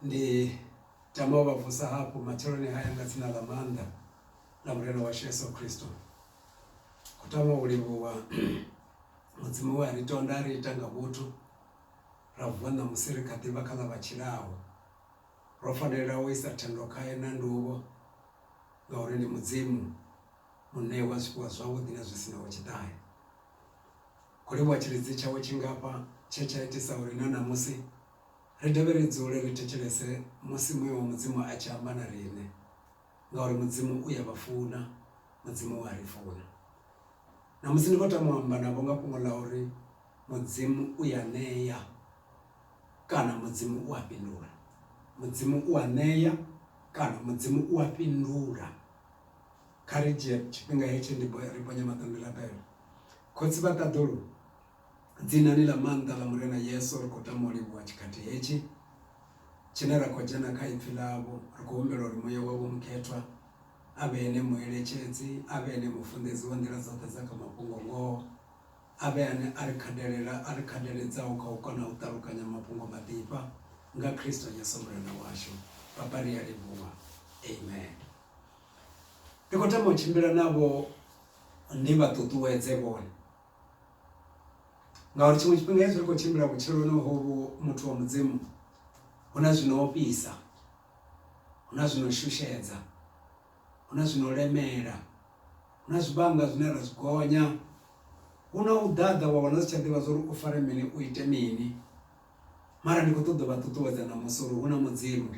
Ndi tama u vha vusa hafhu matsheloni haya nga dzina ḽa maanḓa ḽa Murena washu Yesu Kristo. Khou tama u livhuwa Mudzimu we a ri tonda a ri ita nga vhuthu ra vuwa ṋamusi ri kha ḓivha kha ḽa vha tshilaho. Ro fanela u isa thendo khae na nduvho ngauri ndi Mudzimu muṋe wa zwifhiwa zwavhuḓi na zwi sinaho tshiṱahe. Ho livhuwa tshilidzi tshawe tshingafha tshe tsha itisa uri na ṋamusi ri dovhe ri dzule ri thetshelese musi Muya wa Mudzimu a tshi amba na riṋe, ngauri Mudzimu u ya vha funa, Mudzimu u a ri funa. Ṋamusi ndi khou tama u amba navho nga fhungo ḽa uri Mudzimu u ya ṋea kana Mudzimu u a fhindula. Mudzimu u a ṋea kana Mudzimu u a fhindula. Kha ri dzhie tshifhinga hetshi ndi ri ponye maṱo ndi rabele. Khotsi vha ṱaḓulu, dzinani ḽa maanḓa ḽa Murena Yesu ri khou tama u livhuwa tshikhathi hetshi tshine ra khou dzhena kha ipfi ḽavho. Ri khou humbela uri Muya wavho Mukhethwa a vhe ene mueletshedzi, a vhe ene mufunḓedzi wa nḓila dzoṱhe dza kha mafhungo ngoho, a vhe ane a ri khadelela, a ri khadeledzaho kha u kona u ṱalukanya mafhungo maḓifha nga Kristo Yesu Murena washu. Papa, ri a livhuwa. Amen. Ndi khou tama u tshimbila navho ndi vha ṱuṱuwedze vhone ngauri tshiṅwe tshifhinga hezwi ri khou tshimbila vhutshiloni hovhu muthu wa mudzimu hu na zwino ofhisa hu na zwino shushedza hu na zwino lemela hu na zwivhanga zwine ra zwi gonya hu na u ḓaḓa wa wana u si tsha ḓivha zwori u fare mini u ite mini mara ndi kho ṱoḓa u vha ṱuṱuwedza ṋamusi uri hu na mudzimu.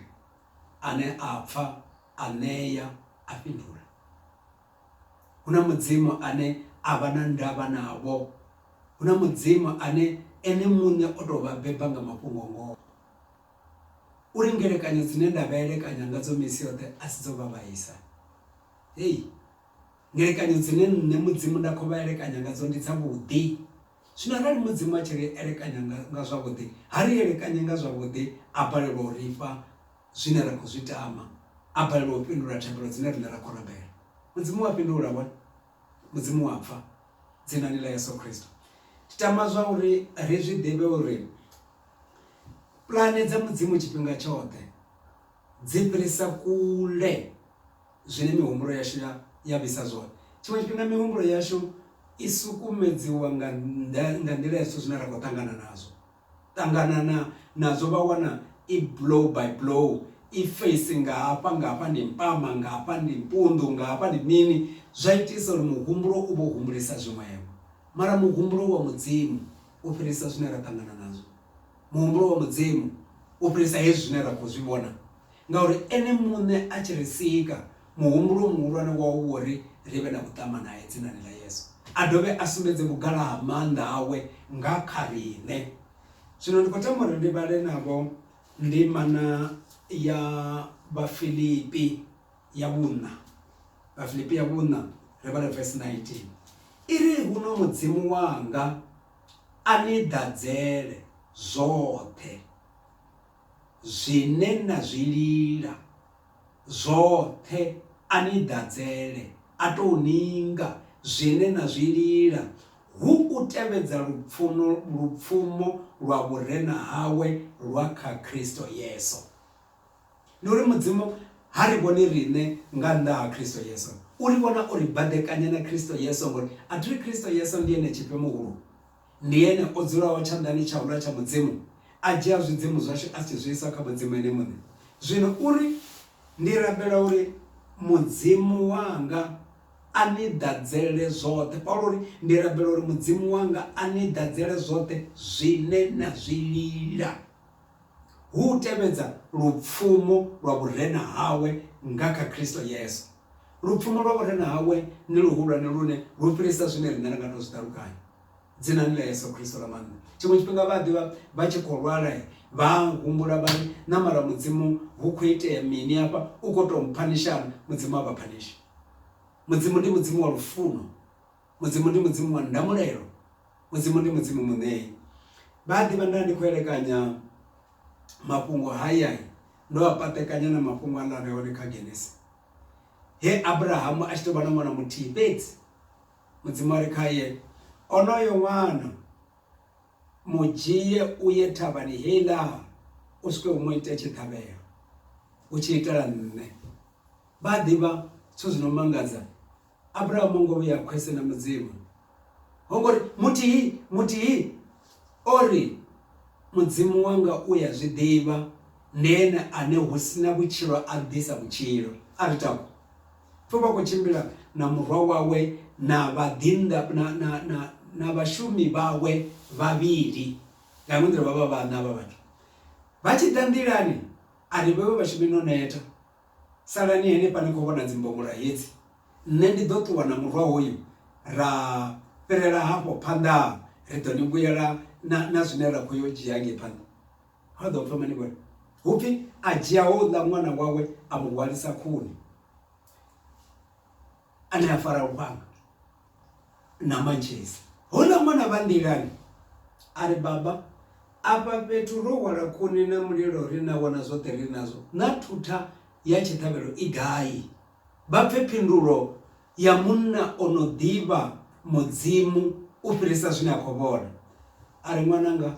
ane a pfa, a ṋea, a fhindula. Hu na Mudzimu ane a vha na ndavha navho. Hu na Mudzimu ane ene muṋe o tou vha beba nga mafhungo-ngoho uri ngelekanyo dzine nda vha elekanya ngadzo misi yoṱhe a si dzo vha vhaisa. Hei! Ngelekanyo dzine nṋe Mudzimu nda khou vha elekanya ngadzo ndi dzavhuḓi. Zwino arali Mudzimu a tshi ri elekanya nga, nga zwavhuḓi, ha ri elekanye nga zwavhuḓi, a balelwa u ri fha zwine ra khou zwi tama, a balelwa u fhindula thabelo dzine riṋe ra khou rabela, Mudzimu u a fhindula, vhone? Mudzimu u a pfa, Dzinani ḽa Yesu Kristo. Ndi tama zwa uri ri zwi ḓivhe uri pulane dza Mudzimu tshifhinga tshoṱhe dzi fhirisa kule zwine mihumbulo yashu ya ya vhisa zwone. Tshiṅwe tshifhinga mihumbulo yashu i sukumedziwa nga nga nḓila ya zwithu zwine ra khou ṱangana nazwo ṱangana na nazwo vha wana i blow by blow i face nga hafha nga hafha ndi mpama nga hafha ndi mpunḓu nga hafha ndi mini zwa itisa uri muhumbulo u vho humbulesa zwiṅwevho mara muhumbulo wa mudzimu u fhirisa zwine ra ṱangana nazwo muhumbulo wa mudzimu u fhirisa hezwi zwine ra khou zwi vhona Ngauri Ene Muṋe a tshi ri sika, muhumbulo muhulwane wawe u wo ri ri vhe na vhuṱama nae dzinani ḽa Yesu, a dovhe a sumbedze vhugala ha maanḓa awe nga kha riṋe. Zwino ndi khou tama uri ndi vhale navho ndimana ya Vhafilipi ya vhuṋa. Vhafilipi ya vhuṋa, ri vhale vesi 19. I ri, Huno Mudzimu wanga a ni ḓadzele zwoṱhe. Zwine na zwi lila zwoṱhe a ni ḓadzele, a tou ninga, zwine na zwi lila hu u tevhedza lupfuno, lupfumo lwa vhurena hawe lwa kha Khristo Yesu. Ndi uri Mudzimu ha ri vhoni riṋe nga nnḓa ha Khristo Yesu, u ri vhona o ri baḓekanya na Khristo Yesu, ngori a thi ri Khristo Yesu ndi ene tshifhe muhulu? Ndi Ene o dzulaho tshanḓani tshauḽa tsha Mudzimu, a dzhia zwidzimu zwashu a tshi zwi isa kha Mudzimu Ene Muṋe. Zwino u ri, Ndi rabela uri Mudzimu wanga a ni ḓadzele zwoṱhe. Paulo o ri, Ndi rabela uri Mudzimu wanga a ni ḓadzele zwoṱhe zwine na zwi lila. Hu u tevhedza lupfumo lwa vhurena hawe nga kha Kristo Yesu. Lupfumo lwa vhurena hawe ndi luhulwane lune lu fhirisa zwine riṋe ra nga tou zwi ṱalukanya. Dzinani ḽa Yesu Kristo ḽa maanḓa. Tshiṅwe tshifhinga vha a ḓivha vha tshi khou lwala vha humbula vha ri, Na mara Mudzimu hu khou itea mini afha? U khou tou mphanisha-na? Mudzimu ha vha phanishi. Mudzimu ndi Mudzimu wa lufuno. Mudzimu ndi Mudzimu wa ndamulelo. Mudzimu ndi Mudzimu muṋei. Vha a ḓivha nda ndi khou elekanya mafhungo hayai ndo a paṱekanya na mafhungo a lare hone kha Genesi. He Abrahamu a tshi tou vha na ṅwana muthihi fhedzi, Mudzimu a ri khae, Onoyo ṅwana mu dzhie u ye thavhani heiḽa u swike u mu ite tshiṱhavhelo, u tshi itela nṋe. Vha a ḓivha zwithu zwi no mangadza Abraham ho ngo vhuya khwese na mudzimu ho ngori muthihi muthihi o ri mudzimu wanga u ya zwi ḓivha nene ane hu sina vhutshilo a ḓisa vhutshilo a ri tako pfho vha khou tshimbila na murwa wawe na vhaḓinḓa na, na, na, na vhashumi vhawe vhavhili nga iṅwe nḓila vha vha vhaṋa vha vhathu vha tshi ḓa nḓilani a ri vhewe vhashumi no neta Salani henefha ni khou vhona dzimbongola hedzi, nṋe ndi ḓo ṱuwa na murwa hoyu ra fhirela hafho phanḓa, ri ḓo ni vhuyela na, na zwine ra khou yo dzhia ngei phanḓa. Ha ḓo pfha mini vhone? Hu pfi, A dzhia houḽa ṅwana wawe a mu hwalisa khuni. ane a fara lufhanga na mantshisi. Houḽa ṅwana vha nḓilani a ri, Baba, afha fhethu ro hwala khuni na mulilo ri na wana zwoṱhe ri nazwo, naa thutha ya tshiṱhavhelo i gai? Vha pfe phindulo ya munna o no ḓivha Mudzimu u fhirisa zwine a khou vhona. A ri, Ṅwananga,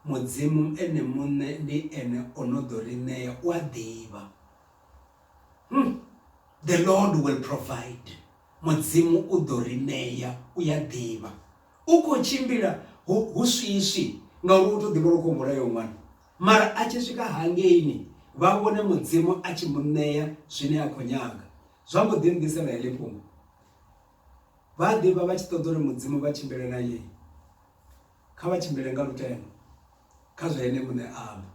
Mudzimu Ene muṋe ndi Ene o no ḓo ri ṋea, u a ḓivha. Umm the Lord will provide Mudzimu u ḓo ri ṋea u ya ḓivha u khou tshimbila hu, hu swiswi ngauri wo tou ḓivha uri u khou mulayo ṅwana mara a tshi swika hangeini vha vhone mudzimu a tshi mu ṋea zwine a khou nyaga zwa mbo ḓi nḓisela heḽi fhungo vha ḓivha vha tshi ṱoḓa uri mudzimu vha tshimbile na yeye Kha vha tshimbile nga lutendo kha zwe Ene muṋe a amba.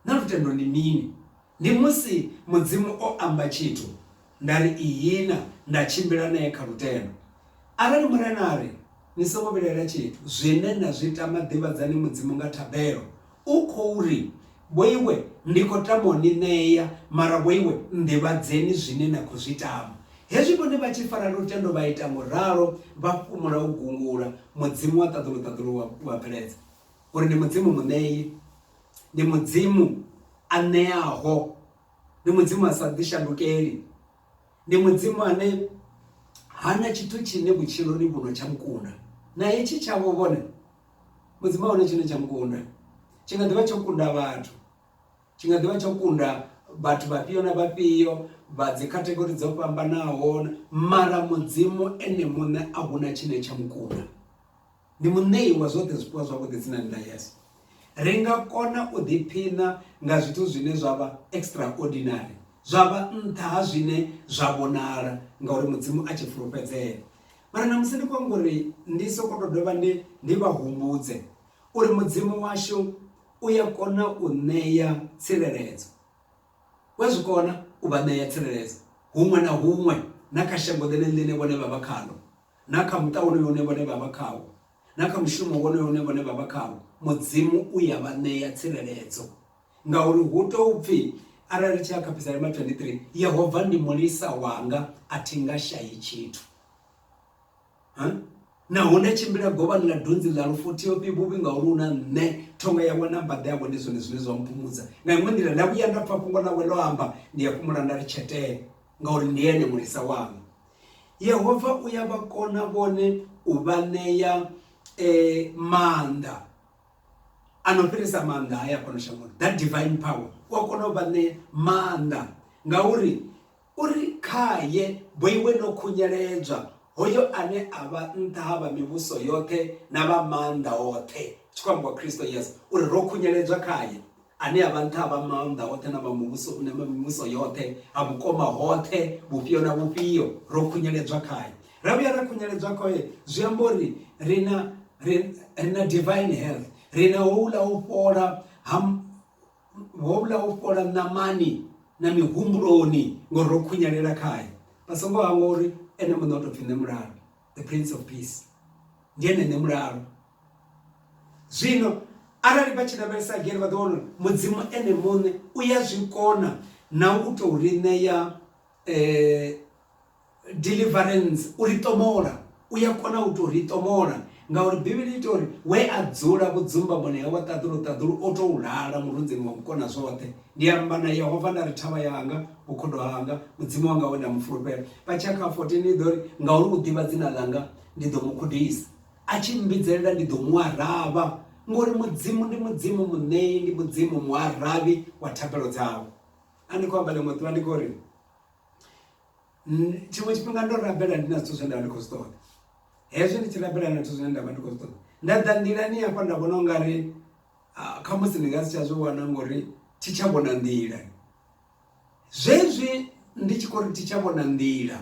Naa lutendo ndi mini? Ndi musi Mudzimu o amba tshithu, nda ri ihina, nda tshimbila nae kha lutendo. Arali Murena a ri, Ni songo vhilaela tshithu, zwine na zwi tama ḓivhadzani Mudzimu nga thabelo, U khou ri, Vhoiwe, ndi khou tama u ni ṋea, mara vhoiwe nḓivhadzeni zwine na khou zwi tama. Hezwi vhone vha tshi fara lutendo vha ita ngo ralo, vha fhumula u gungula, Mudzimu wa ṱaḓulu-ṱaḓulu u a, u a bveledza uri ndi Mudzimu Muṋei, ndi Mudzimu a ṋeaho, ndi Mudzimu a sa ḓishandukeli, ndi Mudzimu ane ha na tshithu tshine vhutshiloni vhuno tsha mu kunda. Na hetshi tshavho vhone. mudzimu ahone tshine tsha mukunda tshi nga ḓivha tsho kunda vhathu tshi nga ḓivha tsho kunda vhathu vhafhio na vhafhio vha dzi khathegori dzo fhambanaho mara mudzimu ene muṋe a huna tshine tsha mukunda ndi muṋei wa zwoṱhe zwifhiwa zwavhuḓi dzinani ḽa yesu ri nga kona u ḓiphina nga zwithu zwine zwa vha extraordinary zwa vha nṱha ha zwine zwa vhonala ngauri mudzimu a tshi fulufhedzea mara na musi ndi khou amba uri ndi soko to dovha ndi ndi vha humbudze uri mudzimu washu u ya kona u ṋea tsireledzo wa zwi kona u vha ṋea tsireledzo huṅwe na huṅwe na kha shango ḽene ḽine vhone vha vha khalo na kha muṱa wonoyo une vhone vha vha khawo na kha mushumo wonoyo une vhone vha vha khawo mudzimu u ya vha ṋea tsireledzo Ngauri hu tou pfi, Arali ri tshi ya kha Psalme 23, Yehova ndi mulisa wanga, a thi nga shayi tshithu. Naho nda tshimbila govhani ḽa dunzi ḽa lufu, thi ofhi vhuvhi ngauri hu na nṋe. Thonga yawe na mbaḓa yawe ndi zwone zwine zwa mphumudza. Nga iṅwe nḓila, nda vhuya nda pfa fhungo ḽawe ḽo amba, ndi a fhumula nda ri tshetee, ngauri ndi ene mulisa wanga. Yehova u ya vha kona vhone u vha ṋea eh, maanḓa a no fhirisa maanḓa haya fhano shangoni that divine power u a kona u vha ṋea maanḓa ngauri uri khaye boiwe no khunyeledzwa hoyo ane a vha nṱha ha vha mivhuso yoṱhe na vha maanḓa oṱhe tshi khou ambiwa kristo yesu uri ro khunyeledzwa khaye Ane a vha nṱha ha vha maanḓa oṱhe na vha muvhuso u na mivhuso yoṱhe, ha vhukoma hoṱhe, vhufhio na vhufhio, ro khunyeledzwa khae. Ra vhuya ra khunyeledzwa khae, zwi amba uri ri na ri na divine health, ri na houḽa u fhola ha houḽa u fhola ṋamani na mihumbuloni ngori ro khunyelela khae. Vha songo hangwa uri ene muṋe o tou pfhi nṋe mulalo, the prince of peace ndi ene nṋe mulalo. Zwino arali vha tshi lavhelesa again vha ḓo wana uri Mudzimu ene muṋe u ya zwi kona na u tou ri ṋea deliverance u ri ṱomola u ya kona u tou ri ṱomola ngauri bivhili ita uri we a dzula vhudzumbamoni hawe ṱaḓulu ṱaḓulu o tou lala murunzini wa mukona zwoṱhe ndi amba na yehova nda ri thavha yanga vhukhudo hanga mudzimu wanga we nda mu fulufhela vha tshia kha 14 i ḓo ri ngauri u ḓivha dzina ḽanga ndi ḓo mu gudisa A tshi mmbidzelela ndi ḓo mu aravha, ngori Mudzimu ndi Mudzimu, Muṋei ndi Mudzimu, Muaravhi wa thabelo dzawe. A ndi khou amba ḽiṅwe ḓuvha ndi khou ri, tshiṅwe tshifhinga ndo rabela ndi na zwithu zwe nda vha ndi khou zwi ṱoḓa. Hezwi ndi tshi rabela na zwithu zwine nda vha ndi khou zwi ṱoḓa, nda ḓa nḓilani hafha nda vhona ungari khamusi ndi nga si tsha zwi wana ngori thi tsha vhona nḓila. Zwezwi ndi tshi khou ri thi tsha vhona nḓila,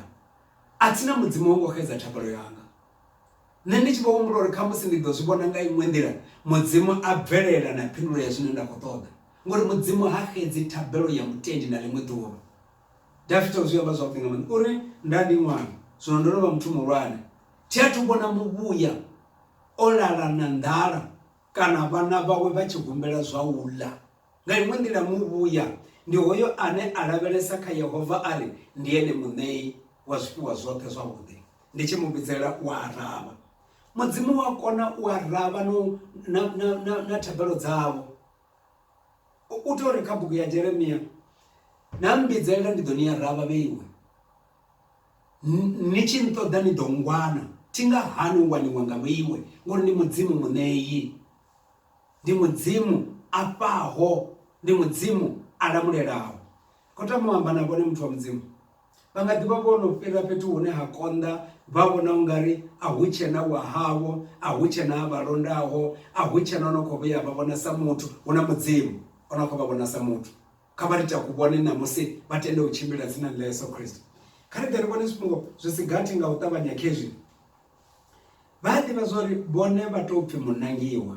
a thina Mudzimu ho ngo xedza thabelo yanga. Nṋe ndi tshi vho humbula uri khamusi ndi ḓo zwi vhona nga iṅwe nḓila, Mudzimu a bvelela na phindulo ya zwine nda khou ṱoḓa. Ngauri Mudzimu ha xedzi thabelo ya mutendi na ḽiṅwe ḓuvha. Dafita o zwi amba zwavhuḓi nga maanḓa, o ri, Nda ndi ṅwana, zwino ndo no vha muthu muhulwane, thi athu vhona muvhuya o lala na nḓala kana vhana vhawe vha tshi humbela zwa u ḽa. Nga iṅwe nḓila, muvhuya ndi hoyo ane a lavhelesa kha Yehova a ri ndi ene Muṋei wa zwifhiwa zwoṱhe zwavhuḓi. Ndi tshi mu vhidzela u a aravha. Mudzimu u a kona u aravha no na na na na thabelo dzavho. U tori kha bugu ya Jeremia na mmbidzelela ndi ḓo ni aravha vheiwe. Ni tshi nṱoḓa ni ḓo ngwana thi nga hani u waniwa nga vheiwe ngori ndi mudzimu muṋeyi. Ndi mudzimu a fhaho ndi mudzimu a lamulelaho. Kho tama u amba na vhone muthu wa mudzimu. Vha nga ḓi vha vho no fhira fhethu hune ha konḓa vha vhona u nga ri a hu tshena wa havho a hu tshena a vha londaho a hu tshena o no khou vhuya vha vhona sa muthu hu na mudzimu o no khou vha vhona sa muthu kha vha ri takuvhone ṋamusi vha tende u tshimbila dzinani ḽa yesu kristo kha ri ḓe ri vhone zwifhungo zwi si gathi nga u ṱavhanya khezwi vha a ḓivha zwa uri vhone vha tou pfhi munangiwa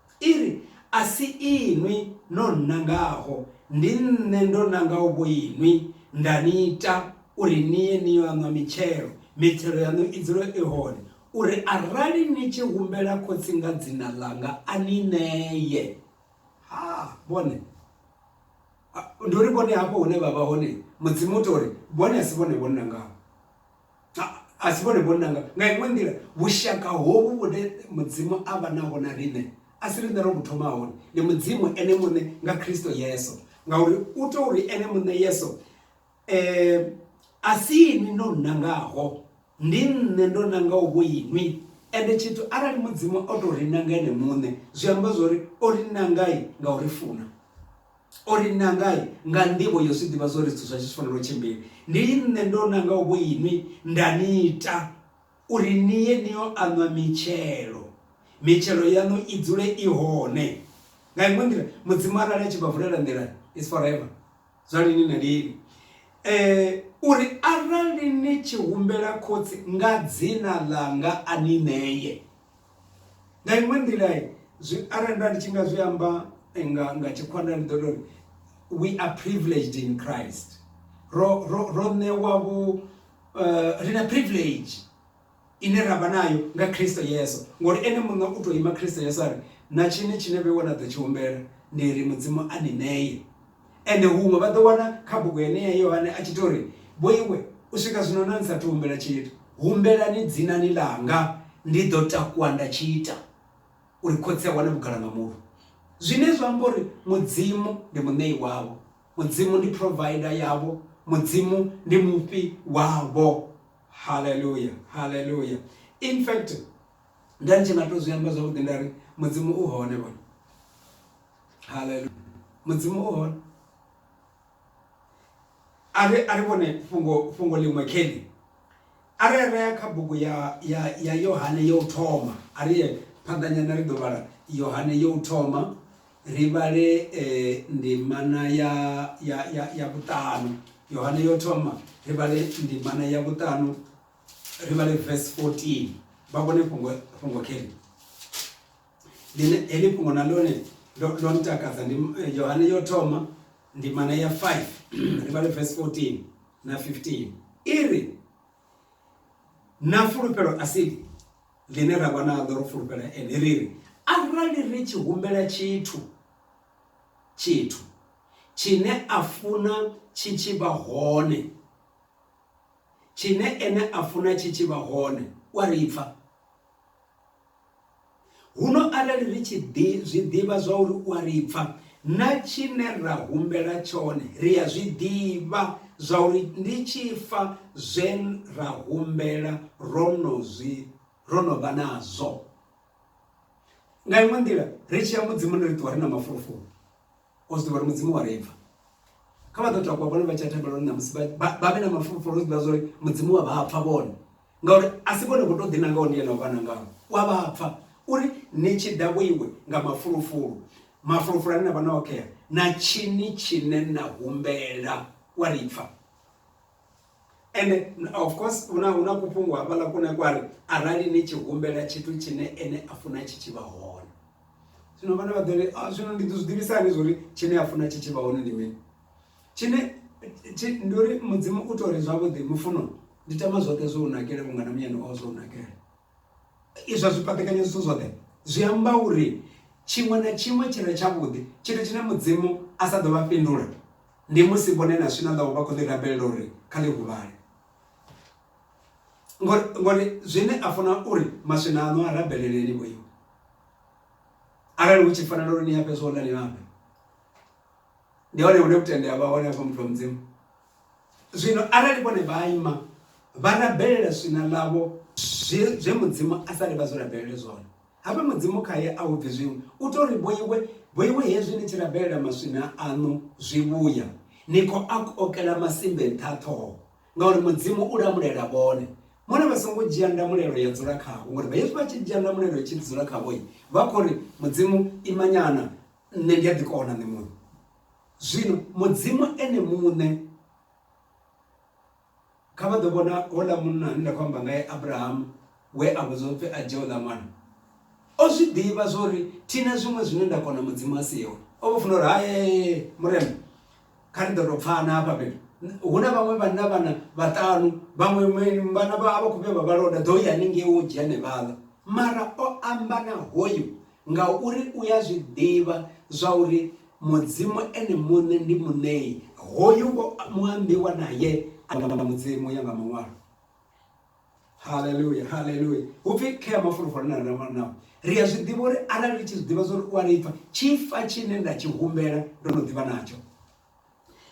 I ri, A si inwi no nnangaho, ndi Nṋe ndo nangaho vhoinwi, nda ni ita uri ni ye ni yo a ṋwa mitshelo, mitshelo yaṋu i dzule i hone, uri arali ni tshi humbela Khotsi nga dzina ḽanga a ni ṋee. Ha, vhone! Ndi uri vhone hafho hune vha vha hone, Mudzimu u tou ri, Vhone a si vhone vho nnangaho. A si vhone vhone nanga. Nga iṅwe nḓila, vhushaka hovhu vhune Mudzimu a vha naho na riṋe a si riṋe ro vhu thoma hone, ndi Mudzimu Ene muṋe nga Kristo Yesu. Ngauri u tou uri Ene muṋe Yesu a si inwi no nnangaho, ndi nṋe ndo nangaho vho inwi. Ende tshithu arali Mudzimu o tou ri nanga Ene muṋe, zwi amba zwo ri o ri nanga nga u ri funa. O ri, Nangai nga nḓivho yo zwi ḓivha zwo ri zwithu zwa tshi fanela u tshimbila. Ndi nṋe ndo nangaho vhoinwi nda ni ita uri ni ye ni yo aṋwa mitshelo, mitshelo yaṋu i dzule i hone. Nga iṅwe nḓila, Mudzimu arali a tshi vha vulela nḓila, it's forever, zwa lini na lini. Uri arali ni tshi humbela Khotsi nga dzina ḽanga a ni ṋee. nga iṅwe nḓila zwi arali nda ndi tshi nga zwi amba nga nga tshikhwanda ndi ḓo tori we are privileged in christ ro ro ro ṋewa vhu eh, ri na privilege ine ra vha nayo nga kristo yesu ngori ene muṋe u tou ima kristo yesu a ri na tshine tshine vhe wana ḓo tshi humbela ndi ri mudzimu a ni ṋeye Ende huṅwe vha ḓo wana kha bugu yeneyi Yohane a tshi tou ri, Vhoiwe, u swika zwino na ni sa athu humbela tshithu, humbelani dzinani ḽanga, ndi ḓo takuwa nda tshi ita uri Khotsi a wane vhugala nga mulwi. Zwine zwa amba uri Mudzimu ndi Muṋei wavho, Mudzimu ndi Provider yavho, Mudzimu ndi Mufhi wavho. Haleluya! Haleluya! In fact, nda ndi tshi nga tou zwi amba zwavhuḓi nda ri, Mudzimu u hone vhone. haleluya mudzimu o hone a ri a ri vhone fhungo fhungo ḽiṅwe kheḽi a ri rea kha bugu ya ya ya yohane yo u thoma a ri ye phanḓanyana ri ḓo vhala yohane yo u thoma ri vhale um ndimana ya ya ya ya vhuṱanu yohane yo thoma ri vhale ndimana ya vhuṱanu ri vhale verse 14 vha vhone fhungo fhungo kheḽi Ḽine heḽi fhungo na ḽone ḽo ḽo ntakadza ndi eh, Yohane yo thoma ndimana ya 5 ri vhale verse 14 na 15 iri na fulufhelo asili ḽine ra vha naḽo ro fulufhela ene ri ri arali ri tshi humbela tshithu tshithu tshine a funa tshi tshi vha hone tshine ene a funa tshi tshi vha hone u a ri pfa Huno arali ri tshi ḓi zwi ḓivha zwauri u a ri pfa, na tshine ra humbela tshone ri a zwi ḓivha zwauri ndi tshi fa zwe ra humbela ro no zwi ro no vha nazwo. Nga iṅwe nḓila ri tshi ya Mudzimu ri ṱuwa ri na mafulufulu. O zwi ḓivha uri Mudzimu u a ri pfa. Kha vha ḓo takuwa vhone vha tshi ya thembeloni ṋamusi vha vhe na mafulufulu o zwi ḓivha zwa uri Mudzimu wa vha pfa vhone ngauri a si vhone vho tou ḓinangaho ndi ene o vha nangaho u a vha pfa uri ni tshi ḓa vhoiwe nga mafulufulu mafulufulu ane na vha na okhea na tshini tshine na humbela u a ri pfa. ende of course una una kufhungu hafhaḽa kune kwari arali ni tshi humbela tshithu tshine ene a funa tshi tshi vha hone zwino vhana vha ḓori ah, zwino ndi ḓo zwi ḓivhisa hani zwori tshine a funa tshi tshi vha hone ndi mini tshine ndi uri mudzimu u tori zwavhuḓi mufuno ndi tama zwoṱhe zwo u nakele vhungana muyani o zwo u nakele Izwa zwipaṱekanyedziso zwoṱhe zwi amba uri tshiṅwe na tshiṅwe tshi re tshavhuḓi, tshithu tshine Mudzimu a sa ḓo vha fhindula ndi musi vhone na zwine a ḓovha vha khou ḽi rabelela uri kha ḽi huvhale. Ngori ngori zwine a funa uri maswina aṋu a rabelele ni vhoiwe. Arali hu tshi fanela uri ni a fhe zwo ḽa ni a fhe, ndi hone hune vhutendi ha vha hone hafha muthu wa Mudzimu. Zwino arali vhone vha ima vha rabelela swina ḽavho zwe, zwe Mudzimu a sa ri vha zwi rabelele zwone, habe Mudzimu khae a hu bvi zwiṅwe. U tou ri, Vhoiwe, vhoiwe hezwi ni tshi rabelela maswina aṋu zwivhuya, ni khou a kokela masimbe nṱha ṱhoho, ngauri Mudzimu u lamulela vhone. Mona vha songo dzhia ndamulelo ya dzula khavho, ngori hezwi vha tshi dzhia ndamulelo tshi dzula khavho, vha khou ri, Mudzimu, imanyana, nṋe ndi a ḓi kona, nṋe muṋe. Zwino Mudzimu ene muṋe kha vha ḓo vhona houḽa munna ane nda khou amba ngae Abrahamu we a vhudzwa upfi a dzhie uḽa ṅwana o zwi ḓivha zwori thina zwiṅwe zwine nda kona mudzimu a siho o vho funa uri hae murena kha ri ḓo tou pfana hafha fhethu hu na vhaṅwe vhanna vhana vhaṱanu vhaṅwe vhana vha vha khou vhe vha vhalonda ḓo ya haningei wo dzhia nevhaḽa mara o amba na hoyu Ngauri u a zwi ḓivha zwa uri Mudzimu Ene muṋe ndi Muṋei, hoyu ngo muambiwa nae a nga Mudzimu u ya nga Maṅwalo. Haleluya! Haleluya! Hu pfi khea mafulufulu ane ra vha nao, ri a zwi ḓivha uri arali ri tshi zwi ḓivha zwa uri u a ri pfa, tshifa tshine nda tshi humbela ndo no ḓivha natsho.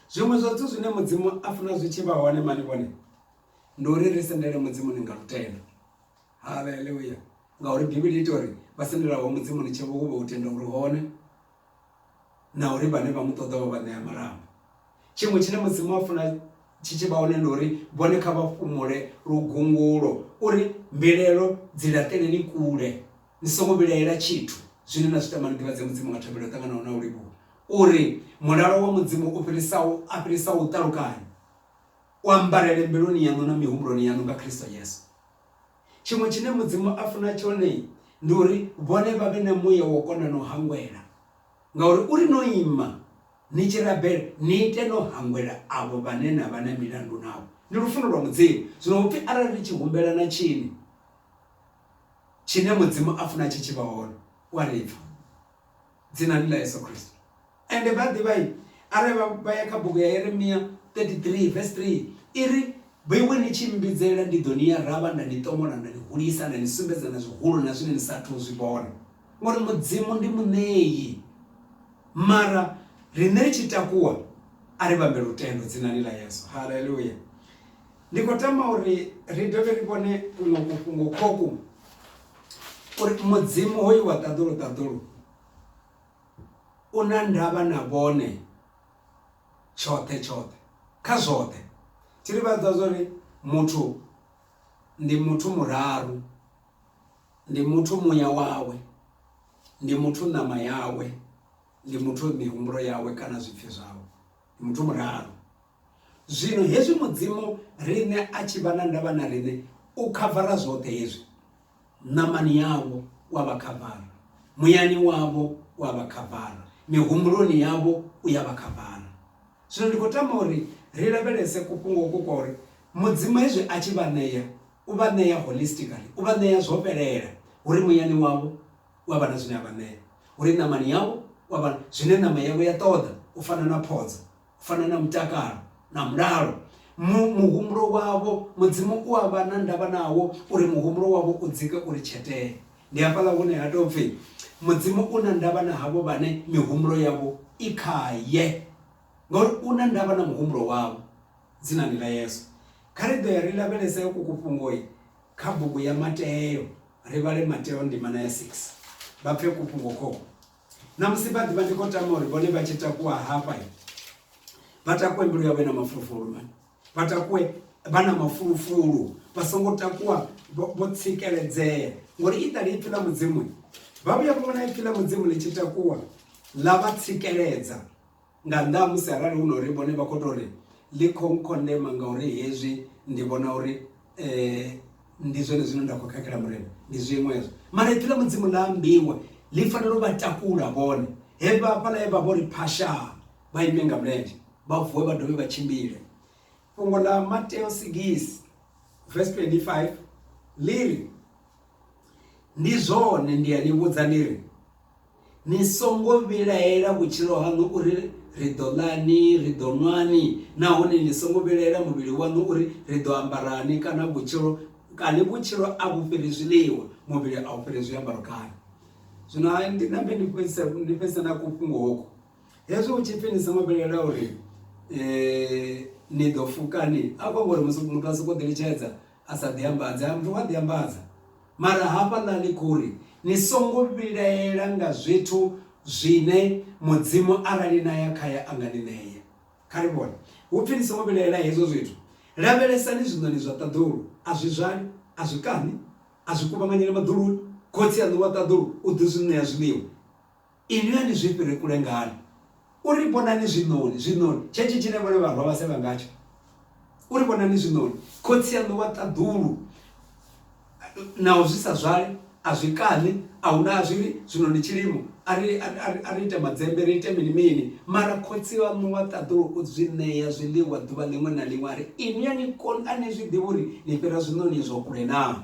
Zwiṅwe zwa zwithu zwine Mudzimu a funa zwi tshi vha hone mani vhone, ndi uri ri sendele Mudzimuni nga lutendo. haleluya ngauri bivhili ita uri vha sendelaho mudzimu ni tshevo uvha u tenda uri hone na uri vhane vha mu ṱoḓa vha vha ṋea marambo tshiṅwe tshine mudzimu a funa tshi tshi vha hone ndi uri vhone kha vha fhumule lugungulo uri mbilaelo dzi laṱeleni kule ni songo vhilaela tshithu zwine na zwi tama ni ḓivhadze mudzimu nga thabelo ṱanganaho na u livhuwa uri mulalo wa mudzimu u fhirisaho a fhirisaho u ṱalukanya u ambarele mbiluni yaṋu na mihumbuloni yaṋu nga kristo yesu Tshiṅwe tshine Mudzimu a funa tshone ndi uri vhone vha vhe na muya wo kona no hangwela, ngauri u ri no ima ni tshi rabela ni ite no hangwela avho vhane na vha na milandu navho. Ndi lufuno lwa Mudzimu. Zwino hu pfi arali ri tshi humbela na tshini tshine Mudzimu a funa tshi tshi vha hone, u a ri pfa. Dzinani ḽa Yesu Kristo. Ende vha a ḓivha arali vha vha ya kha bugu ya Yeremia 33 vese 3 i ri, Bwiwi ni tshi mmbidzela, ndi ḓo ni ya ravha nda ni ṱomola nda ni hulisa nda ni sumbedza na zwihulu na zwine ni sa athu u zwi vhona. Ngori Mudzimu ndi muṋei, mara riṋe ri tshi takuwa a ri vhambe lutendo dzinani ḽa Yesu. Haleluya! Ndi khou tama uri ri dovhe ri vhone kuṅwe kufhungo khoku uri Mudzimu hoyu wa ṱaḓulu ṱaḓulu U na ndavha na vhone tshoṱhe tshoṱhe, kha zwoṱhe. Tshi ri vhudza zwa uri muthu ndi muthu muraru, ndi muthu muya wawe, ndi muthu ṋama yawe, ndi muthu mihumbulo yawe kana zwipfi zwawe. Ndi muthu muraru. Zwino hezwi Mudzimu riṋe a tshi vha na ndavha na riṋe, u khavara zwoṱhe hezwi. Ṋamani yavho u a vha khavara, muyani wavho u a vha khavara, mihumbuloni yavho u ya vha khavara. Zwino ndi khou tama uri ri lavhelese kufhungo uku kwa uri Mudzimu hezwi a tshi vha ṋea, u vha ṋea holistically, u vha ṋea zwo fhelela. Hu ri muyani wavho u a vha na zwine a vha ṋea, hu ri ṋamani yavho u a vha zwine ṋama yavho ya ṱoḓa, u fana na phodzo. U fana na mutakalo na mulalo, mu, muhumbulo wavho, Mudzimu u a vha na ndavha nawo, uri muhumbulo wavho u dzike uri tshetee. Ndi hafhaḽa hune ha tou pfi, Mudzimu u na ndavha na havho vhane mihumbulo yavho i khae. Ngauri U na ndavha na muhumbulo wavho. Dzinani ḽa Yesu. Kha ri ḓo ya ri lavhelese uku kufhungo kha bugu ya Mateo, ri vhale Mateo ndimana ya 6, vha pfe kufhungo khokhu. Ṋamusi vha ḓivha ndi khou tama uri vhone vha tshi takuwa hafha vha takuwe mbilu yavho na mafulufulu vha takuwe vha na mafulufulu vha songo takuwa vho tsikeledzea ngori i ṱali ipfhi ḽa mudzimu vha vhuya vha vhona ipfhi ḽa mudzimu ḽi tshi takuwa ḽa vha tsikeledza Nga nnḓa ha musi arali hu na uri vhone vha khou tou ri ḽi khou nkhondema ngauri hezwi ndi vhona uri ndi zwone zwine nda khou khakhela Murena, ndi zwiṅwe hezwo. Mara Ipfi ḽa Mudzimu ḽa ambiwa, ḽi fanela u vha takula vhone. He vha hafhaḽa he vha vho ri phashaa, vha ime nga mulenzhe, vha vuwe vha dovhe vha tshimbile. Fhungo ḽa Mateo sigisi vese 25 ḽi ri, Ndi zwone ndi a ni vhudza ndi ri, Ni songo vhilaela vhutshilo haṋu uri, Ri ḓo ḽani? Ri ḓo ṅwani? Nahone ni songo vhilaela muvhili waṋu uri, Ri ḓo ambarani? Kana vhutshilo, kani vhutshilo a vhu fhiri zwiḽiwa, muvhili a u fhiri zwiambaro kana? Zwino ha ndi nambe ndi fhedzisa ndi fhedzisa na ku fhungo hoku hezwi hu tshipfi ni songo vhilaela uri ni ḓo fukani a kho ngori musi muthu a soko ḓi litshedza a sa ḓi ambadza muthu wa ḓi ambadza Mara hafhaḽa ḽi khou ri, Ni songo vhilaela nga zwithu zwine Mudzimu arali na ya khae a nga ni ṋea. Kha ri vhone. Hu pfi ni songo vhilaela hezwo zwithu. Lavhelesani zwiṋoni zwa ṱaḓulu. A zwi zwali, a zwi kaṋi, a zwi kuvhanganyeli maḓuluni. Khotsi aṋu wa ṱaḓulu u ḓi zwi ṋea zwiḽiwa. Inwi a ni zwi fhiri kule ngani? U ri vhonani zwiṋoni, zwiṋoni, tshenetshi tshine vhone vharwa vha sevha ngatsho. U ri vhonani zwiṋoni. Khotsi aṋu wa ṱaḓulu, naho zwi sa zwale, a zwi kaṋi, a hu na a zwi ri, Zwino ndi tshilimo, a ri, a ri, a ri, a ri ite madzembe, ri ite mini-mini. Mara Khotsi aṋu wa ṱaḓulu u zwi ṋea zwiḽiwa ḓuvha ḽiṅwe na ḽiṅwe. A ri, Inwi a ni koni, a ni zwi ḓivhi uri ni fhira zwiṋoni izwo kule naa?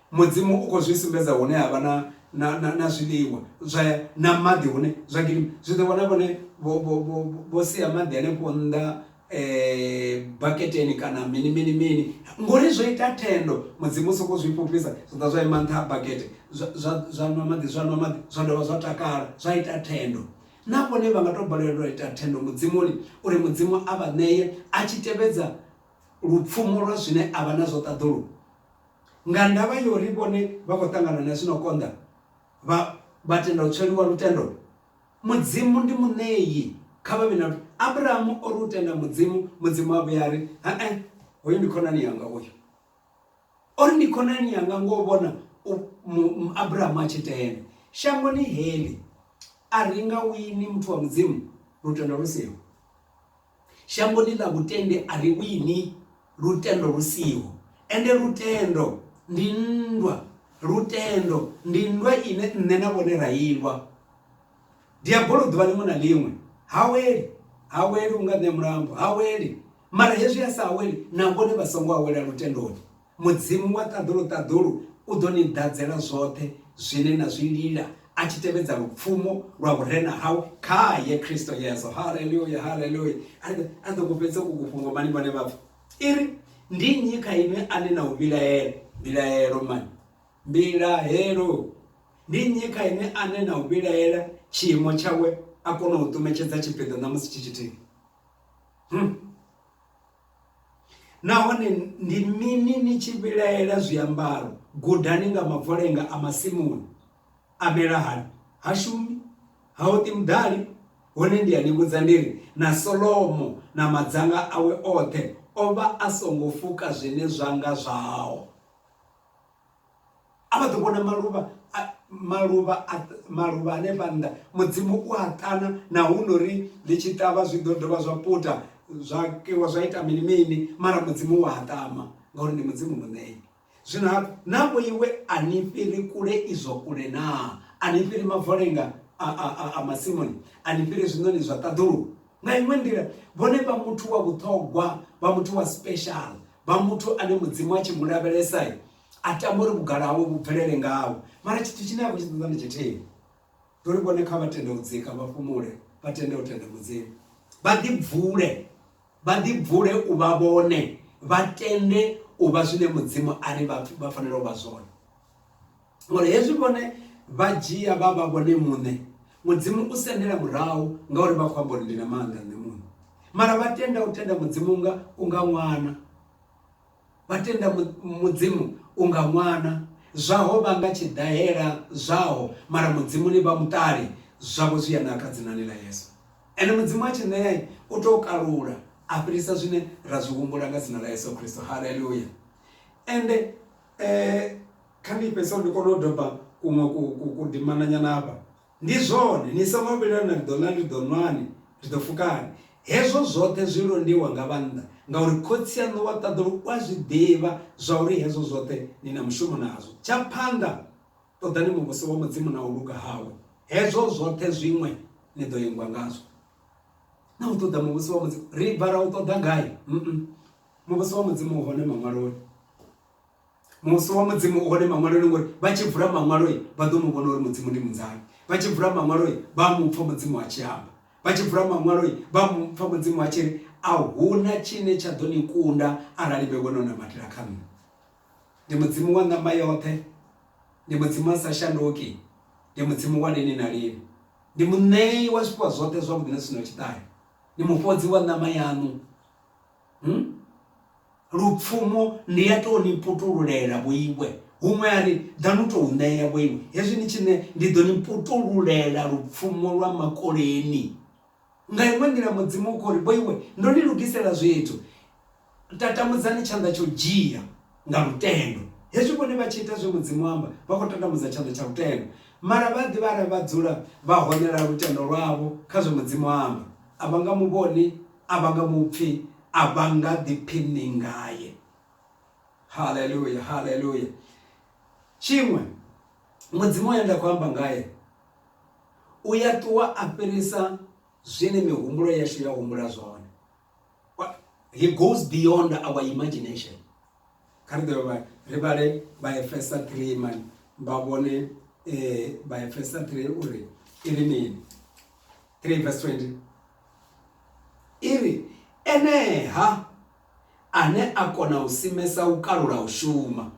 Mudzimu u khou zwi sumbedza hune ha vha na, na, na, na zwiḽiwa zwa, na maḓi hune zwa gidima. Zwi ḓo vhona vhone vho, vho, vho, vho sia maḓi hanefho nnḓa baketeni kana mini, mini, mini. Ngori zwo ita thendo. Mudzimu u sokou zwi fhufhisa, zwa ḓa zwa ima nṱha ha bakete, zwa, zwa, zwa nwa maḓi, zwa nwa maḓi, zwa dovha zwa takala, zwa ita thendo. Na vhone vha nga tou balelwa u ita thendo Mudzimuni, uri Mudzimu a vha ṋee, a tshi tevhedza lupfumo lwa zwine a vha nazwo ṱaḓulu. Nga ndavha ya uri vhone vha khou ṱangana na zwi no konḓa, vha vha tenda u tsweliwa lutendo. Mudzimu ndi muṋei, kha vha vhe na lutendo. Abrahamu o ri u tenda Mudzimu, Mudzimu a vhuya a ri, He-e, hoyu ndi khonani yanga uyu. O ri ndi khonani yanga ngo vhona Abrahamu a tshi tenda. Shangoni heḽi a ri nga wini muthu wa Mudzimu lutendo lu siho. Shangoni ḽa vhutendi a ri wini lutendo lu siho, ende lutendo ndi nndwa. Lutendo ndi nndwa ine nṋe na vhone ra i lwa. Diabolo ḓuvha ḽiṅwe na ḽiṅwe ha weli, ha weli, u nga ṋea mulambo, ha weli. Mara hezwi a sa aweli, na vhone vha songo awela lutendoni. Mudzimu wa ṱaḓulu-ṱaḓulu u ḓo ni ḓadzela zwoṱhe zwine na zwi lila a tshi tevhedza lupfumo lwa vhurena hawe khae Kristo Yesu. Haleluya, haleluya. A ri a ḓo ku fhedza uku fhungo mani vhone vhathu. I ri, Ndi nnyi kha inwi ane na u vhilaela? Mbilahelo mani? Mbilahelo. Ndi nnyi kha inwi ane na u vhilaela tshiimo tshawe a kona u ṱumetshedza tshipiḓa ṋamusi tshi tshithihi? Hmm. Nahone ndi mini ni tshi vhilaela zwiambaro? Gudani nga mavolenga a masimuni. A mela hani? Ha shumi, ha oṱi muḓali. Hone ndi a ni vhudza ndi ri, na Solomo na madzanga awe oṱhe o vha a songo fuka zwine zwa nga zwao. A vha ḓo vhona maluvha a maluvha a maluvha hanefha nnḓa mudzimu u a ṱana na hu nori ḽi tshi ṱavha zwi ḓo dovha zwa puta zwa kiwa zwa ita mini mini mara mudzimu wa a ṱama ngauri ndi mudzimu muṋei zwino hafhu na vho iwe a ni fhiri kule izwo kule naa a ni fhiri mavolenga a a a a masimuni a ni fhiri zwiṋoni zwa ṱaḓulu nga iṅwe nḓila vhone vha muthu wa vhuṱhogwa vha muthu wa special vha muthu ane mudzimu a tshi mu lavhelesa a tama uri vhugala hawe vhu bvelele ngawe mara tshithu tshine a khou tshi ṱoḓa ndi tshithihi ndi uri vhone kha vha tende u dzika vha fhumule vha tende u tenda mudzimu vha ḓibvule vha ḓibvule u vha vhone vha tende u vha zwine mudzimu a ri vha fanela u vha zwone ngori hezwi vhone vha dzhia vha vha vhone muṋe mudzimu u sendela murahu ngauri vha khou amba uri ndi na maanḓa nṋe muṋe mara vha tenda u tenda mudzimu nga u nga ṅwana vha tenda mudzimu u nga ṅwana zwaho vha nga tshiḓahela zwaho mara mudzimu ni vha muṱali zwavho zwi ya naka dzinani ḽa yesu ende mudzimu a tshi ṋea u tou kalula a fhirisa zwine ra zwi humbula nga dzina ḽa yesu kristo haleluya ende um Kha ndi fhedzisele ndi kone u doba kuṅwe kudimananyana hafha. Ndi zwone, ni songo vhilaela, ri ḓo ḽa, ri ḓo nwani, ri ḓo fukani. Hezwo zwoṱhe zwi londiwa nga vhannḓa, ngauri Khotsi aṋu wa ṱaḓulu u a zwi ḓivha zwauri hezwo zwoṱhe ni na mushumo nazwo. Tsha phanḓa, ṱoḓani Muvhuso wa Mudzimu na u luga hawe, hezwo zwoṱhe zwiṅwe ni ḓo ingwa ngazwo. Na u ṱoḓa Muvhuso wa Mudzimu, ri bva ra u ṱoḓa gai? Muvhuso wa Mudzimu u hone Maṅwaloni. Musi wa Mudzimu u hone Maṅwaloni, ngori vha tshi vula Maṅwalo vha ḓo mu vhona uri Mudzimu ndi munzani. Vha tshi vula Maṅwalo vha a mu pfa Mudzimu a tshi amba. Vha tshi vula Maṅwalo vha a mu pfa Mudzimu a tshi ri, A hu na tshine tsha ḓo ni kunda arali vhe vho no nambatela kha nṋe. Ndi Mudzimu wa ṋama yoṱhe, ndi Mudzimu a sa shanduki, ndi Mudzimu wa lini na lini, ndi Muṋei wa zwifhiwa zwoṱhe zwavhuḓi na zwi si na tshiṱahe, ndi Mufhodzi wa ṋama yaṋu. Lupfumo, Ndi a tou ni putululela vho iwe. Huṅwe a ri, Ḓa nu tou ṋea vho iwe. Hezwi ni tshi ṋea, ndi ḓo ni putululela lupfumo lwa makoleni. Nga iṅwe nḓila Mudzimu u khou ri, Vho iwe, ndo ni lugisela zwithu. Tatamudzani tshanḓa tsha u dzhia nga lutendo. Hezwi vhone vha tshi ita zwe Mudzimu a amba, vha khou tatamudza tshanḓa tsha lutendo. Mara vha a ḓivha arali vha dzula vha honela lutendo lwavho kha zwe Mudzimu a amba, a vha nga mu vhoni. A vha nga mu pfi, a vha nga ḓiphiṋi ngae. Haleluya, haleluya. Tshiṅwe, Mudzimu we nda khou amba ngae u ya ṱuwa a fhirisa zwine mihumbulo yashu ya humbula zwone. He goes beyond our imagination. Kha ri dovhe ri vhale Vhaefesa 3 mani vha vhone eh, Vhaefesa 3 uri i ri mini 3 verse 20 I ri, Enee-ha, ane a kona u simesa u kalula u shuma,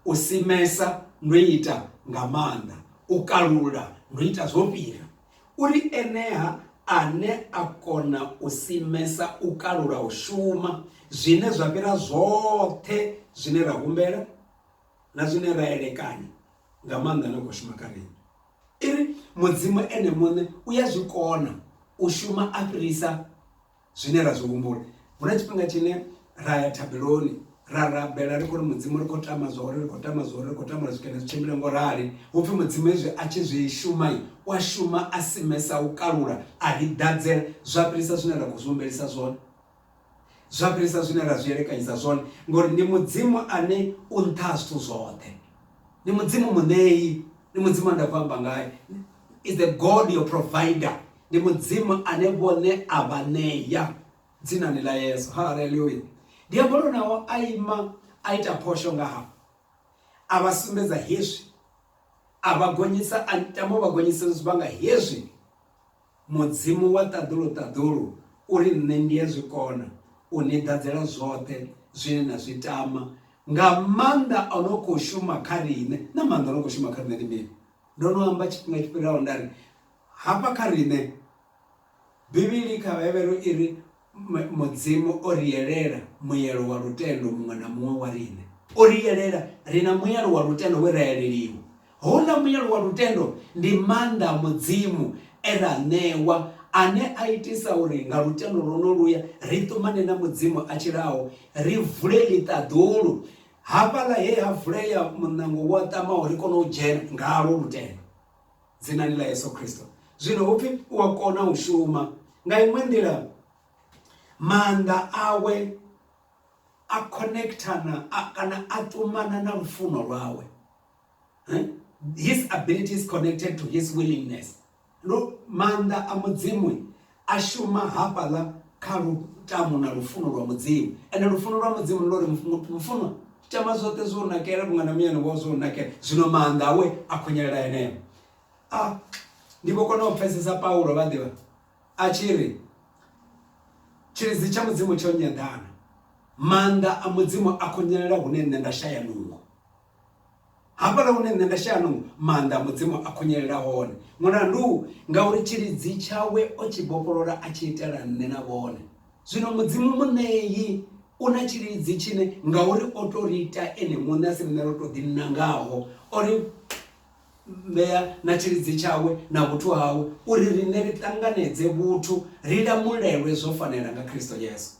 u simesa ndo ita nga maanḓa, u kalula ndo ita zwo fhira. U ri, Enee-ha ane a kona u simesa u kalula u shuma, zwine zwa fhira zwoṱhe zwine ra humbela, na zwine ra elekanya, nga maanḓa na u khou shuma kha riṋe. I ri, Mudzimu ene muṋe u ya zwi kona u shuma a fhirisa zwine ra zwi humbula. Hu na tshifhinga tshine ra ya thabeloni ra rabela ri khou ri mudzimu ri khou tama zwa uri ri khou tama zwa uri ri khou tama uri zwikene zwi tshimbile ngo rali hu pfhi mudzimu hezwi a tshi zwi shuma u a shuma a simesa u kalula a ri ḓadzela zwa fhirisa zwine ra khou zwi humbelisa zwone zwa fhirisa zwine ra zwi elekanyisa zwone ngori ndi mudzimu ane u nṱha ha zwithu zwoṱhe ndi mudzimu muṋeyi ndi mudzimu a nda khou amba ngaye is the god your provider ndi mudzimu ane vhone a vha ṋeya dzinani ḽa yesu haleluya diabolo nawo a ima a ita phosho nga ha a vha sumbedza hezwi a vha gonyisa a tama u vha gonyisa zwivhanga hezwi Mudzimu wa ṱaḓulu-ṱaḓulu u ri, Nṋe ndi a zwi kona u ni ḓadzela zwoṱhe zwine na zwi tama, nga maanḓa o no khou shuma kha riṋe. Na maanḓa o no khou shuma kha riṋe ndi mini? Ndo no amba tshifhinga tshi fhiraho nda ri, hafha kha riṋe, Bivhili kha Vhahevheru i ri, Mudzimu o ri yelela muelo wa lutendo muṅwe na muṅwe wa riṋe. O ri yelela ri na muelo wa lutendo we ra yeleliwa. Houḽa muelo wa lutendo ndi maanḓa a Mudzimu e ra a ṋewa, ane a itisa uri nga lutendo lwonoluya ri ṱumane na Mudzimu a tshilaho, ri vule ḽiṱaḓulu, hafhaḽa he ha vulea muṋango wo ṱamaho ri kone u dzhena ngalwo lutendo. Dzinani ḽa Yesu Kristo. Zwino hu pfi u a kona u shuma. Nga iṅwe nḓila maanḓa awe a connectana kana a ṱumana na lufuno lwawe. His ability is connected to his willingness. Lu maanḓa a mudzimu a shuma hafhaḽa kha lutamo na lufuno lwa Mudzimu. Ende lufuno lwa Mudzimu ndi lwa uri mufunwa tama zwoṱhe zwo nakela vhunga na muyani wao zwo nakela, zwino maanḓa awe a khunyelela eneo. A ndi vho kona u pfesesa Paulo vha ḓivha a tshi ri tshilidzi tsha Mudzimu tsho nyeḓana, maanḓa a Mudzimu a khunyelela hune nṋe nda shaya nungo. Hafhaḽa hune nṋe nda shaya nungo, maanḓa a Mudzimu a khunyelela hone. Mulandu, ngauri tshilidzi tshawe o tshi vhofholola a tshi itela nṋe na vhone. Zwino Mudzimu Muṋei u na tshilidzi tshine ngauri o tou ri ita ene muṋe a si riṋe ro tou ḓinangaho, o ri ṋea na tshilidzi tshawe na vhuthu hawe uri riṋe ri ṱanganedze vhuthu, ri lamulelwe zwo fanela nga Kristo Yesu.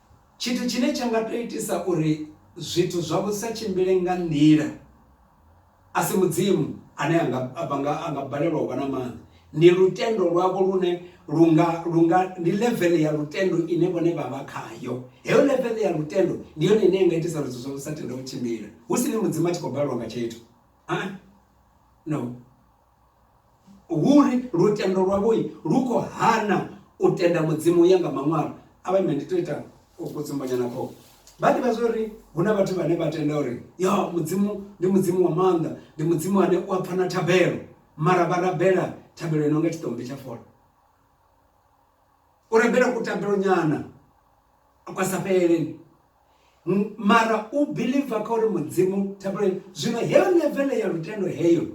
Tshithu tshine tsha nga tou itisa uri zwithu zwavho zwi sa tshimbile nga nḓila a si Mudzimu ane a nga, vha nga, a nga balelwa u vha na maanḓa. Ndi lutendo lwavho lune lu nga, lu nga, ndi level ya lutendo ine vhone vha vha khayo. Heyo level ya lutendo ndi yone ine ya nga itisa uri zwithu zwavho zwi sa tende u tshimbila, hu si ni Mudzimu a tshi khou balelwa nga tshithu. Ha-a. No. Huri lutendo lwavho lu khou hana u tenda Mudzimu u ya nga Maṅwalo. Avha ime ndi to ita kutsumbonyana kho. Vha ḓivha zwori hu na vhathu vhane vha tenda uri ya Mudzimu ndi Mudzimu wa maanḓa, ndi Mudzimu ane u a pfa na thabelo mara vha rabela thabelo ino nga tshiṱombi tsha fola. u rabela kutambelo nyana kwa sa fheleleni mara u believe kha uri mudzimu thabelo zwino heyo levele ya lutendo heyo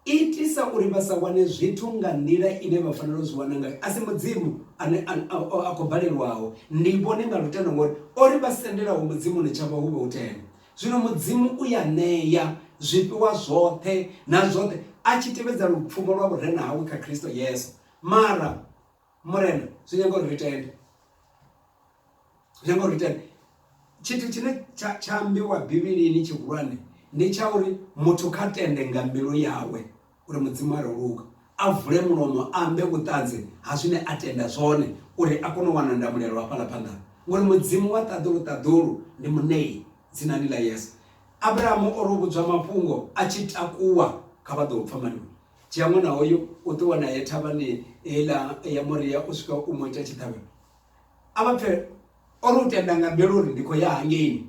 itisa uri vha sa wane zwithu nga nḓila ine vha fanela u zwi wana ngayo a si mudzimu ane a khou balelwaho ndi vhone nga lutendo ngori ori vha sendelaho mudzimu ni tshavha hu vha u tenda zwino mudzimu u ya ṋeya zwifhiwa zwoṱhe na zwoṱhe a tshi tevhedza lupfumo lwa vhurena hawe kha khristo yesu mara Murena, zwi nyaga uri ri tende. Zwi nyaga uri ri tende. Tshithu tshine tsha tsha ambiwa Bivhilini tshihulwane ndi tsha uri muthu kha tende nga mbilu yawe uri Mudzimu a luga a vule mulomo ambe vhuṱanzi ha zwine a tenda zwone uri a kone u wana ndamulelo hafhaḽa phanḓa ngori Mudzimu wa ṱaḓulu ṱaḓulu ndi muṋei dzinani ḽa Yesu. Abrahamu o ro vhudzwa mafhungo a tshi takuwa kha vha ḓo pfa maliwa. Dzhia ṅwana hoyo u ṱuwa naye thavhani heiḽa ya Moria u swika u mu ita tshiṱhavhelo a vha pfhe o ri u tenda nga mbilu uri ndi khou ya hangeini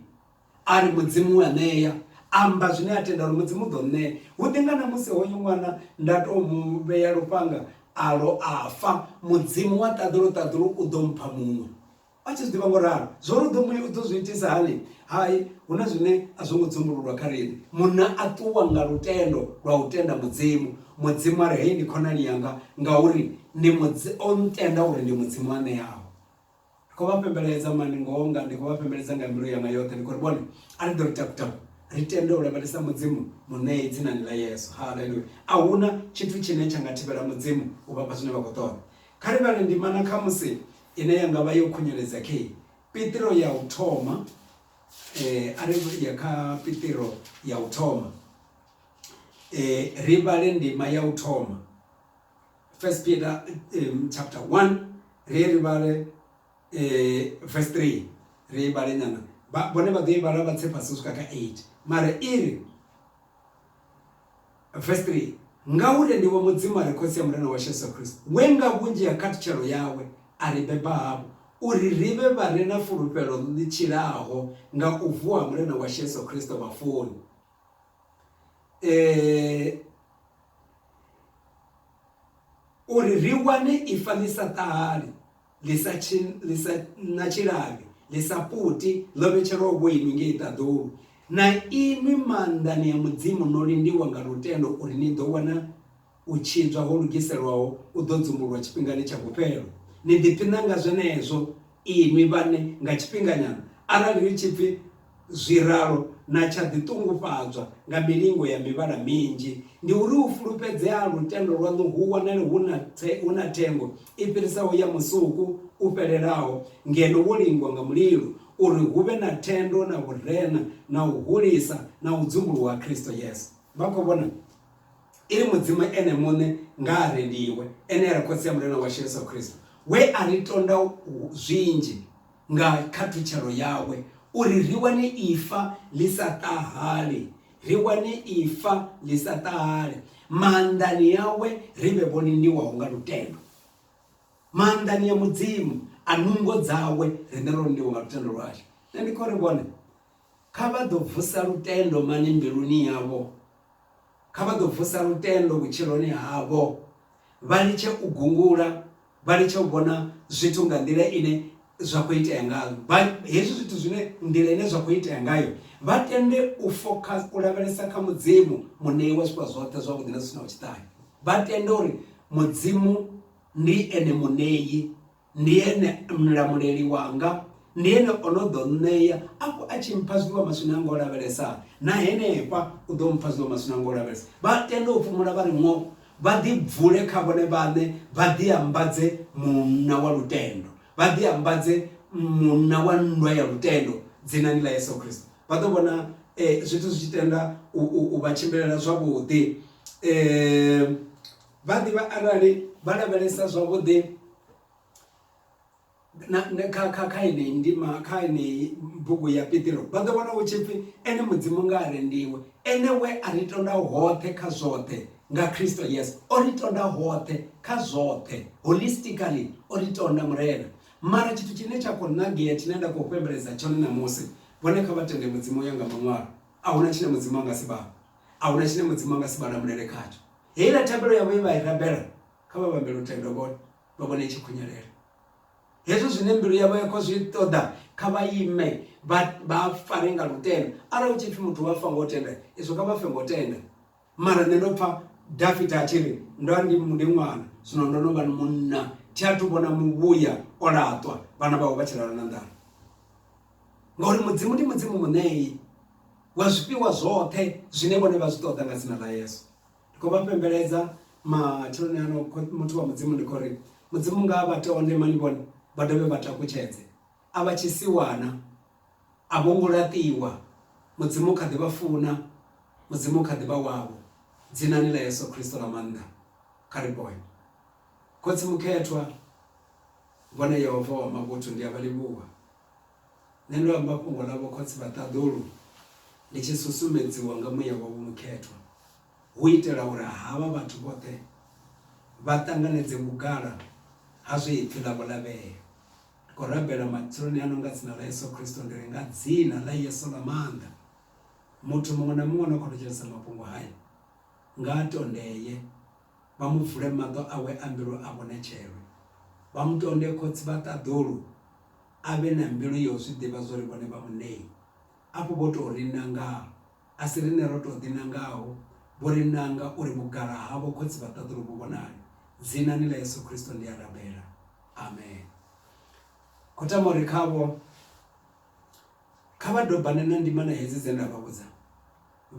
a ri mudzimu wa ṋea amba zwine a tenda uri mudzimu u ḓo ṋea hu ḓi nga na musi hoyo ṅwana nda tou mu vhea lufhanga alo a fa mudzimu wa ṱaḓulu ṱaḓulu u ḓo mpha muṅwe A tshi zwi ḓivha ngo ralo, zwo ri u ḓo mu- u ḓo zwi itisa hani? Hai, hu na zwine a zwo ngo dzumbululwa kha riṋe. Munna a ṱuwa nga lutendo lwa u tenda Mudzimu. Mudzimu a ri, Hei ndi khonani yanga, ngauri ndi Mudzi, o ntenda uri ndi Mudzimu a ṋeaho. Ndi khou vha fhembeledza mani ngoho nga, ndi khou vha fhembeledza nga mbilu yanga yoṱhe, ndi khou ri vhone, a ri ḓo ri taku-taku, ri tende u lavhelesa Mudzimu Muṋei dzinani ḽa Yesu. Haleluya! A hu na tshithu tshine tsha nga thivhela Mudzimu u vha fha zwine vha khou ṱoḓa. Kha ri vhale ndimana khamusi Ine ya nga vha yo khunyeledza khe Piṱiro ya u thoma, a ri ya kha Piṱiro ya u thoma, ri vhale ndima ya u thoma, First Peter chapter 1, ri ye ri vhale verse 3, ri ye vhale nyana, vhone vha ḓo i vhala vha tse fhasi u swika kha 8, mara i ri, Vesi 3, Ngauri ndivho Mudzimu a re Khotsi ya Murena washu Yesu Kristo, we nga vhunzhi ha khathutshelo yawe a ri beba hafhu, uri ri vhe vha re na fulufhelo ḽi tshilaho nga u vuwa ha Murena washu Yesu Kristo vhafuni. E, uri ri wane ifa ḽi sa ṱahali, ḽi sa ḽi sa na tshilavhi ḽi sa puti ḽo vhetshelwaho vho inwi ngei ṱaḓulu na inwi maanḓani ya mudzimu no lindiwa nga lutendo uri ni ḓo wana u tshidzwa ho lugiselwaho u ḓo dzumbulwa tshifhingani tsha vhufhelo ni ḓiphiṋa nga zwenezwo inwi vhane nga tshifhinganyana arali hu tshi pfi Zwi ralo, na tsha ḓi ṱungufhadzwa nga milingo ya mivhala minzhi. Ndi uri u fulufhedzea ha lutendo lwaṋu hu wanale hu na, hu na thengo i fhirisaho ya musuku u fhelelaho, ngeno wo lingwa nga mulilo, uri hu vhe na thendo na vhurena na u hulisa na u dzumbuluwa ha Kristo Yesu. Vha khou vhona? I ri Mudzimu Ene muṋe nga a rendiwe, ene a ri Khotsi ya Murena washu Yesu Kristo, we a ri tonda zwinzhi Nga khathutshelo yawe, uri ri wane ifa ḽi sa ṱahali, ri wane ifa ḽi sa ṱahali, maanḓani awe ri vhe vho lindiwaho nga lutendo. Maanḓani a Mudzimu, a nungo dzawe, riṋe ro lindiwa nga lutendo lwashu. Nṋe ndi khou ri vhone. Kha vha ḓo vusa lutendo mani mbiluni yavho? Kha vha ḓo vusa lutendo vhutshiloni havho, vha litshe u gungula, vha litshe u vhona zwithu nga nḓila ine zwa khou itea ngayo, vha hezwi zwithu zwine nḓila ine zwa khou itea ngayo, vha tende u fokhasa, u lavhelesa kha Mudzimu, Muṋei wa zwifhiwa zwoṱhe zwavhuḓi na zwi si naho tshiṱahe. Vha tende uri Mudzimu ndi Ene Muṋei ndi ene mlamuleli wanga ndi ene o no ḓo nṋea afho a tshi mpha zwiḽiwa maswina anga o lavhelesa na henefha u ḓo mpha zwiḽiwa maswina anga o lavhelesa vha tenda u fhumula vha ri ṅo vha ḓi bvule kha vhone vhaṋe vha ḓi ambadze munna wa lutendo vha ḓi ambadze munna wa nndwa ya lutendo dzinani ḽa yesu kristo vha ḓo vhona um zwithu zwi tshi tenda u vha tshimbilela zwavhuḓi um Vha ḓivha arali vha lavhelesa zwavhuḓi na kha kha kha yeneyi ndima kha yeneyi bugu ya pitiro vha ḓo vhona hu tshi pfhi ene mudzimu nga a rendiwe ene we a ri tonda hoṱhe kha zwoṱhe nga kristo yesu o ri tonda hoṱhe kha zwoṱhe holistically o ri tonda murena mara tshithu tshine tsha khou nagea tshine nda khou fhembeledza tshone ṋamusi vhone kha vha tende mudzimu ya nga maṅwalo a huna tshine mudzimu a nga si vhavho a huna tshine mudzimu a nga si vha lamulela khatsho heiḽa thabelo yavho ye vha i rabela kha vha vhambele u tenda vhone vha vhone i tshi khunyelela hezwo zwine mbilu yavho ya khou zwi ṱoḓa kha vha ime vha vha fare nga lutendo arali hu tshi pfhi muthu wa fa ngo tenda izwo kha vha fe ngo tenda mara nṋe ndo pfha dafita a tshi ri ndo ndi ndi ṅwana zwino ndo no vha ni munna thi athu vhona muvhuya o laṱwa vhana vhawe vha tshi lala na nḓala ngauri mudzimu ndi mudzimu muṋei Wa zwifhiwa zwoṱhe zwine vhone vha zwi ṱoḓa nga dzina ḽa Yesu. Ndi khou vha fhembeledza matsheloni ano, muthu wa Mudzimu, ndi khou ri Mudzimu nga vha tonde, mani vhone, vha dovhe vha takutshedze. A vha tshisiwana, a vho ngo laṱiwa. Mudzimu kha ḓi vha funa, Mudzimu kha ḓi vha wavho. Dzinani ḽa Yesu Kristo ḽa maanḓa, kha ri ponye. Khotsi Mukhethwa, Vho na Yehova wa mavhuthu, ndi a vha livhuwa. Nṋe ndo amba fhungo ḽa vhokhotsi vha ṱaḓulu ndi tshi susumedziwa nga muya wau mukhethwa, hu u itela uri havha vhathu vhoṱhe vha ṱanganedze vhugala ha zwe ipfi ḽavho ḽa vhea. Ndi khou rabela matsheloni ano nga dzina ḽa Yesu Kristo, ndi ri nga dzina ḽa Yesu ḽa maanḓa, muthu muṅwe na muṅwe ano khou thetshelesa mafhungo haya nga a tondee. vha mu vule maṱo awe a mbilu a vhone tshelo, vha mu tonde Khotsi vha ṱaḓulu, a vhe na mbilu ya u zwi ḓivha zwa uri vhone vha Munei. Afho vho tou ri nangaa, a si riṋe ro tou ḓinangaho, vho ri nanga uri vhugala havho Khotsi vha ṱaḓulu vhu vhonale. Dzinani ḽa Yesu Kristo ndi a rabela. Amen. Khothamori khavho. Kha vha dobane na ndimana hedzi dze nda vha vhudza,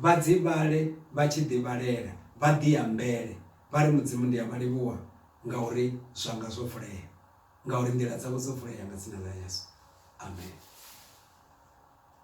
vha dzi vhale vha tshi ḓivhalela, vha ḓiambele vha ri, Mudzimu ndi a vha livhuwa ngauri zwanga zwo vulea, ngauri nḓila dzavho dzo vulea nga dzina ḽa Yesu. Amen.